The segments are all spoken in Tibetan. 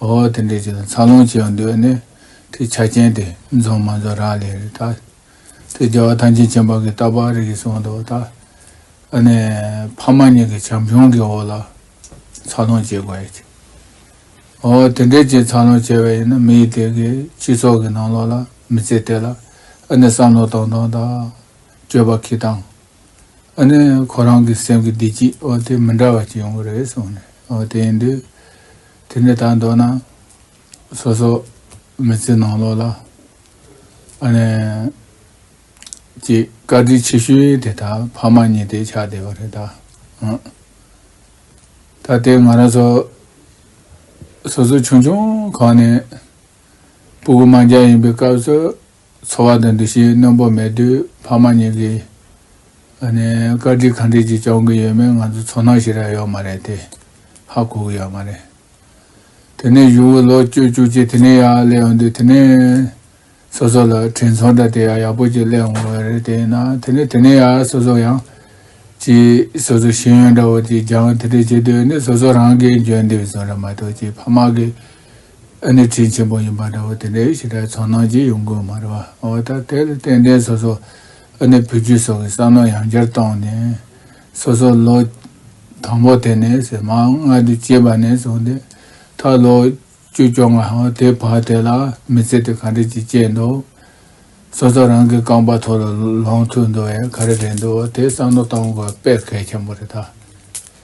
ཨོ་དེ་འདྲའི་ཆེད་དུ་འཚར་ལོངས་བྱེད་ཡང་འདོད་ནི། དེ་ཆ་རྐྱེན་དེ་རྫོགས་མ་རྫོགས་རག་ལས་རེད་ད། དེ་རྒྱལ་བ་ཐང་ཆེན་ཆེན་པོ་གིས་རྟག་པར་རིག་གིས་གསུངས་འདུག་ད། ཨ་ནི། ཕ་མ་གཉིས་ཀྱི་བྱམས་སྐྱོང་གི་འོག་ལ། འཚར་ལོངས་བྱེད་དགོས་ཡ། ཨོ་དེ་འདྲའི་ཆེད་འཚར་ལོངས་བྱས་པ་ཡིན་ན་མི་ཡི་དེ་གའི་སྤྱི་ཚོགས་ཀྱི་ནང་ལོགས་ལ་མི་ཚེ་དེ་ལ་ཨ་ནི་བསམ་བློ་གཏོང་སྟངས་དང། སྤྱོད་པ་འཁྱིལ་སྟངས། ཨ་ནི་ཁོ་རང་གི་སེམས་ཀྱི་བདེ་སྐྱིད་ཨོ་དེ་མི་འདྲ་བ་ཅིག་ཡོང་གི་རེད་གསུངས་ནས་ཨོ་དེ་ཡིན་དུས། དེ་ནས་ད་མདོར་ན་སོ་སོ་མི་ཚེ་ནང་ལོགས་ལ་ཨ་ནེ་ཀྱི་བཀའ་དྲིན་ཆེ་ཤོས་དེ་ད་ཕ་མ་གཉིས་དེ་ཆགས་བསྡད་པ་རེད་ད། ད་ལྟའི་ང་རང་ཚོ་སོ་སོ་ཆུང་ཆུང་གང་ནས་སྤུ་གུ་མང་རྒྱ་ཡིན་པའི་སྐབས་སུ། འཚོ་བ་དང་འདུ་ཤེས་རྣོན་པོ་མེད་དུས་ཕ་མ་གཉིས་ཀྱིས། བཀའ་དྲིན་གང་འདྲས་ཀྱིས་སྐྱོང་གི་ཡོད་མེད་ང་ཚོ་ཚོར་སྣང་ཞིག་རག་ཡོད་མ་རེད་དེ། ཧ་གོ་གི་ཡོད་མ་རེད། དེ་ནས་གཞུང་དབུས་ལོག་སྤྱོད་བཅུ་གཅིག་དེ་ནས་ཡག་སླེབས་ཡོང་དུས་དེ་ནས། སོ་སོ་ལ་དྲིན་ཚོར་འདྲ་དེ་ཡང་ཡག་པོ་ཅིག་སླེབས་འོང་བས་རེད་དེ་ཡིན་ན་དེ་ནས་དེ་ནས་ཡག་སོ་སོ་ཡང། ཅི། སོ་སོའི་ཤེས་ཡོན་འདྲ་བོ་ཅིག་སྦྱང་དེ་འདྲས་བྱེད་དུས་ནི་སོ་སོ་རང་གིས་འཇོན་འདེབས་བཟུང་རེད་མ་གཏོགས་ཅི་ཕ་མ་གིས་ཨ་ནི་ཚིག་ཆེན་པོ་ཡིན་པ་འདྲ་བོ་དེ་འདྲའི་ཞིག་ད་ཚོར་སྣང་སྐྱེ་ཡོང་དགོས་མ་རེད་བ། འོ་ད་དེར་བརྟེན་དྲན་སོ་སོ་ཨ་ནི་བུ་རྒྱུད་སོགས་ཀྱི་བསམ་བློ་ཡང་བསྐྱར་གཏོང་ནས། སོ་སོ་ལོ། དང་པོ་དེ་ནས་ཟེར་མ་ང་འདི་སྐྱེས་པ་ནས་བཟུང་སྟེ། ད་ལོ། བཅོ་བཅོ་ལྔ། དེའི་བར་དེ་ལ་མི་ཚེ་དེ་ག་འདྲ་ཅིག་སྐྱེལ་འདུག། སོ་སོ་རང་གི་རྐང་པ་ཐོག་ལ་ལོངས་ཐུབ་འདུག་ཡ་ག་རེ་རེད་འདུག་དེ་བསམ་བློ་གཏོང་དགོས་དཔེ་གལ་ཆེན་པོ་རེད་ད།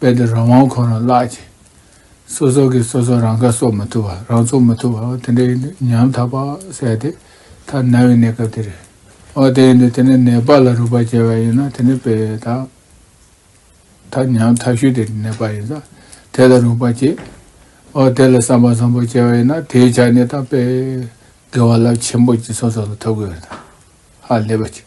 རྦད་དེ་རང་དབང་ཁོ་ན་བརླག་ཅིང། སོ་སོ་གིས་སོ་སོ་རང་ཁ་གསོ་མ་ཐུབ་པ་རང་ཚུགས་མ་ཐུབ་པ་དེ་འདྲའི་ཉམ་ཐག་པ་བསལ་ཏེ་ཐ་ན་བའི་གནས་སྐབས་དེ་རེད། འོ་དེ་ཡིན་དུས་དེ་ནས་ནད་པ་ལ་རུས་པ་འབྱེད་པ་ཡིན་ན་དེ་ནི་དཔེ་དང། ཐ་ཉམ་ཐག་ཤོས་དེ་ནད་པ་ཡིན་ཙང་དེ་ལ་རུས་པ་འབྱེད། འོ་དེ་ལ་བསམ་པ་བཟང་པོ་སྐྱེ་བ་ཡིན་ན་དེའི་ཆ་ནས་ད་དཔེ། དགེ་བ་རླབས་ཆེན་པོ་ཅིག་སོ་སོ་ལ་ཐོབ་གི་ཡོད་ན། ཧ་ལས་པ་ཅིག།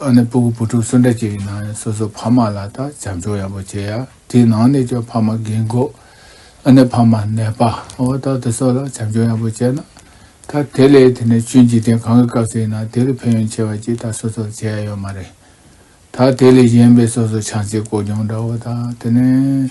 ཨ་ནེ་སྤུ་གུ་བུ་ཕྲུག་སུ་འདྲ་སྐྱེས་ཡིན་ནའང་སོ་སོའི་ཕ་མ་ལ་དང་བྱམས་སྐྱོང་ཡག་པོ་བྱེད་ཡ་དེའི་ནང་ནས་ཀྱང་ཕ་མ་རྒན་གོག་ཨ་ནེ་ཕ་མ་ནད་པ་འོ་ད་དེ་སོགས་ལ་བྱམས་སྐྱོང་ཡག་པོ་བྱས་ན་ད་དེ་ལས་དེ་ནས་ཆོས་འཇིག་རྟེན་གང་གི་སྐབས་སུ་ཡིན་ནའང་དེ་ལས་ཕན་ཡོན་ཆེ་བ་ཅིག་ད་སོ་སོར་བྱེད་ཡ་ཡོད་མ་རེད་ད་དེ་ལས་གཞན་པའི་སོ་སོ་ཆང་ཚིག་ཀོ་གྱོང་འདྲ་བོ་དང་དེ་ནས་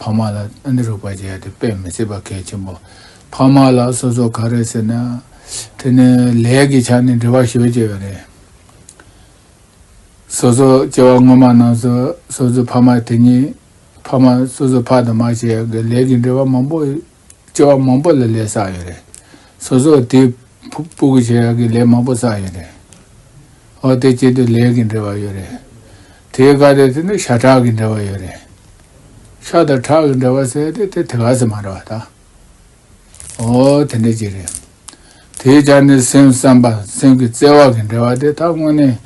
ཕ་མ་ལ་ཨ་ནེ་རོགས་པ་བྱས་ཏེ་དཔེ་མི་བྱེད་པ་གལ་ཆེན་པོ། ཕ་མ་ལ་སོ་སོ་ག་རེད་ཟེར་ན། དེ་ནི་ལས་ཀྱི་ཆ་ནས་འབྲེལ་བ་ཞོལ་བྱས་པ་རེད། སོ་སོ་སྐྱེ་བ་སྔོན་མ་རྣམས་སུ་སོ་སོའི་ཕ་མ་དེ་ཉིད་ཕ་མ་སོ་སོའི་ཕ་དང་མ་བྱས་ཀྱི་ལས་ཀྱི་འབྲེལ་བ་མང་པོ་ལྕི་བ་མང་པོ་ལ་ལས་བསགས་ཡོད་རེད། སོ་སོ་དེ་ཕུག་པོ་གི་བྱས་ཀི་ལས་མང་པོ་བསགས་ཡོད་རེད། ཨོ་དེ་བྱས་དུ་ལས་ཀི་འབྲེལ་བ་ཡོད་རེད། དེ་ག་རེད་ཟེར་ན་ཤ་ཁྲག་གི་འབྲེལ་བ་ཡོད་རེད། ཤ་དང་ཁྲག་གི་འབྲེལ་བ་ཟེར་ཏེ་དེ་དེ་ག་ཟེར་མ་རེད་བ་ད། ཨོ་དེ་འདྲ་ཅིག་རེད། དེའི་ཆ་ནས་སེམས་བསམ་པ་སེམས་ཀི་བརྩེ་བ་གི་འབྲེལ་བ་དེ་ད་དངོས་གནས་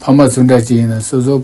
ཕ་མ་སུ་འདྲ་ཅིག་ཡིན་ན་སོ་སོ།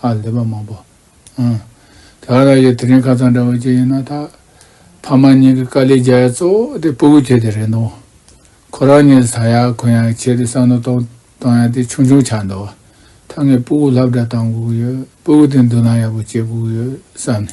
ཧ་ལས་པ་མང་པོ་ཨང། དེ་ཨ་རག་ཡའི་དེ་རིང་ཁ་ཚང་འདྲ་བོ་ཅིག་ཡིན་ན་ཐག། ཕ་མ་གཉིས་ཀྱི་དཀའ་ལས་རྒྱ་ཡ་གཙོ་བོ་དེ་སྤུ་གུ་ཁྱེད་དེ་རེད་འདུག། ཁོ་རང་གཉིས་ཟ་ཡ་གོན་ཡ་བྱས་ཏེ་བསམ་བློ་གཏོང་གཏོང་ཡ་དེ་ཆུང་ཆུང་ཆགས་འདུག། ད་ངས་སྤུ་གུ་ལྷབ་འདྲ་བཏང་དགོས་ཀྱི་ཡོད་སྤུ་གུ་དེ་མདུན་ལམ་ཡག་པོ་སྐྱེལ་དགོས་ཀྱི་ཡོད་བསམ་ནས།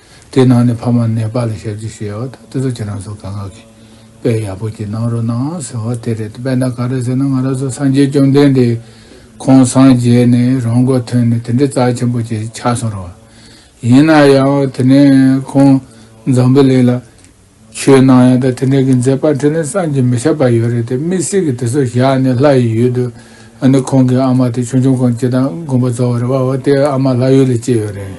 དེ་ནང་ནས་ཕ་མ་ནད་པ་ལ་ཞབས་ཕྱི་ཞུ་ཡག་ད་དེ་ཚོ་ཁྱེད་རང་ཚོ་ག་ང་གི་དཔེ་ཡག་པོ་ཅིག་གནང་རོགས་གནང་ཟེར་བ་དེ་རེད་དཔེ་ན་ག་རེད་ཟེར་ན་ང་རང་ཚོ་སངས་རྒྱས་བཅོམ་ལྡན་འདས་ཁོང་སངས་རྒྱས་ནས་རང་མགོ་ཐོན་ནས་དེ་འདྲའི་རྩ་ཆེན་པོ་ཅིག་ཆགས་སོང་རོགས། ཡིན་ན་ཡང་དེ་ནས་ཁོང་འཛམ་བུ་གླིང་ལ། ཆོས་ནང་ཡང་ད་དེ་འདྲ་གི་མཛད་པ་དེ་ནི་བསམ་གྱིས་མི་ཁྱབ་པ་ཡོད་རེད་དེ་མི་སེར་གྱི་དེ་ཚོ་བཞག་ནས་ལྷ་ཡི་ཡུལ་དུ་ཨ་ནི་ཁོང་གི་ཨ་མ་དེ་ཆུང་ཆུང་གང་སྐྱེས་དང་དགོན་པ་རྫོགས་བ་རེད་བ་བ་དེ་ཨ་མ་ལྷ་ཡུལ་ལས་སྐྱེས་ཡོད་རེད་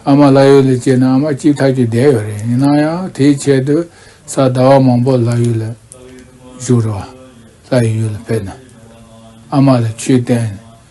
ཨ་མ་ལྷ་ཡུལ་ལས་སྐྱེས་ནས་ཨ་མ་སྐྱིད་ཐག་གྱིས་བསྡད་ཡོད་རེད་ཡིན་ན་ཡང་དེའི་ཆེད་དུ་ས་ཟླ་བ་མང་པོ་ལྷ་ཡུལ་ལ་བཞུགས་རེད་བ་ལྷ་ཡི་ཡུལ་ལ་ཕེབས་ནས་ཨ་མ་ལ་ཆོས་བསྟན།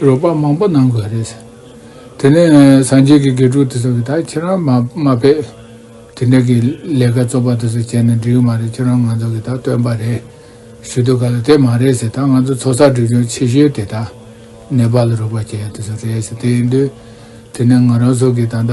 རོགས་པ་མང་པོ་གནང་དགོས་རེད། དེ་ནས་སངས་རྒྱས་ཀྱི་དགེ་ཕྲུག་དེ་ཚོ་གིས་ད་ཁྱེད་རང་མ་ཕེབས། དེ་འདྲ་གི་ལས་ཀ་བཙོག་པ་དེ་ཚོ་བྱས་ནས་འགྲིག་གི་མ་རེད་ཁྱེད་རང་ང་ཚོ་གིས་ད་སྟོན་པ་རེད། ཞུ་དུས་ག་ལ་དེ་མ་རེད་ཟེར་ད་ང་ཚོ་ཚོགས་བསགས་སྒྲིག་སྦྱོང་ཆེ་ཤོས་དེ་ད་ནེ་པ་ལ་རོགས་པ་བྱས་ཡ་དེ་ཚོ་རེད་ཟེར་དེ་ཡིན་དུས། དེ་ནས་ང་རང་ཚོ་གིས་ད་ད།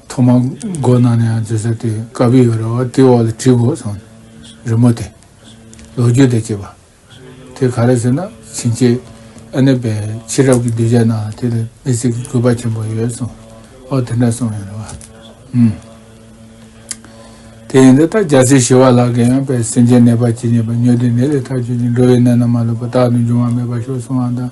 ཐོག་མར་སྒོ་ནང་ནས་ཡང་འཛུལ་ས་དེ་དཀའ་བི་ཡོད་རེད་བ་དེའི་འོག་ལ་བྲིས་དགོས་སོང། རི་མོ་དེ། ལོ་རྒྱུས་དང་བཅས་པ། དེ་ག་རེ་ཟེར་ན་བྱིན་ཆེ། ཨ་ནེ་པའི་ཕྱི་རབས་ཀྱི་གདུལ་བྱ་ནང་དེ་ལ་མི་ཚེ་གི་གུས་པ་ཆེན་པོ་ཡོད་སོང། འོ་དེ་འདྲ་སོང་ཡོད་རེད་བ། ཨུམ། དེ་ཡིན་དུས་ད་རྒྱ་སེ་ཞི་བ་ལགས་ཀྱིས་ཡང་བའི་སེམས་ཅན་ནད་པ་ཇི་སྙེད་པ་ཉོས་དུས་ནད་ལས་ཐག་ཆོད་ཅིང་འགྲོ་བའི་གནས་ན་མ་ལུས་པ་རྟག་ཏུ་འབྱུང་བ་མེད་པར་ཤོར་སོང་བ་དང།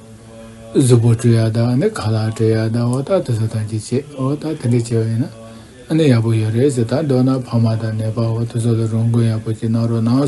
གཟུགས་པོ་སྤྲུལ་ཡག་དག་ནི་ག་ལ་སྤྲུལ་ཡག་དག་འོ་ད་དེ་ཚོ་དང་ཅི་བྱེད་འོ་ད་དེ་འདྲས་བྱེད་པ་ཡིན་ན་ཡག་པོ་ཡོད་རེད་ཟེར་ད་འདོད་ན་ཕ་མ་དང་ནད་པ་འོ་དེ་ཚོ་ལ་རོགས་མགོན་ཡག་པོ་ཅིག་གནང་རོགས་གནང།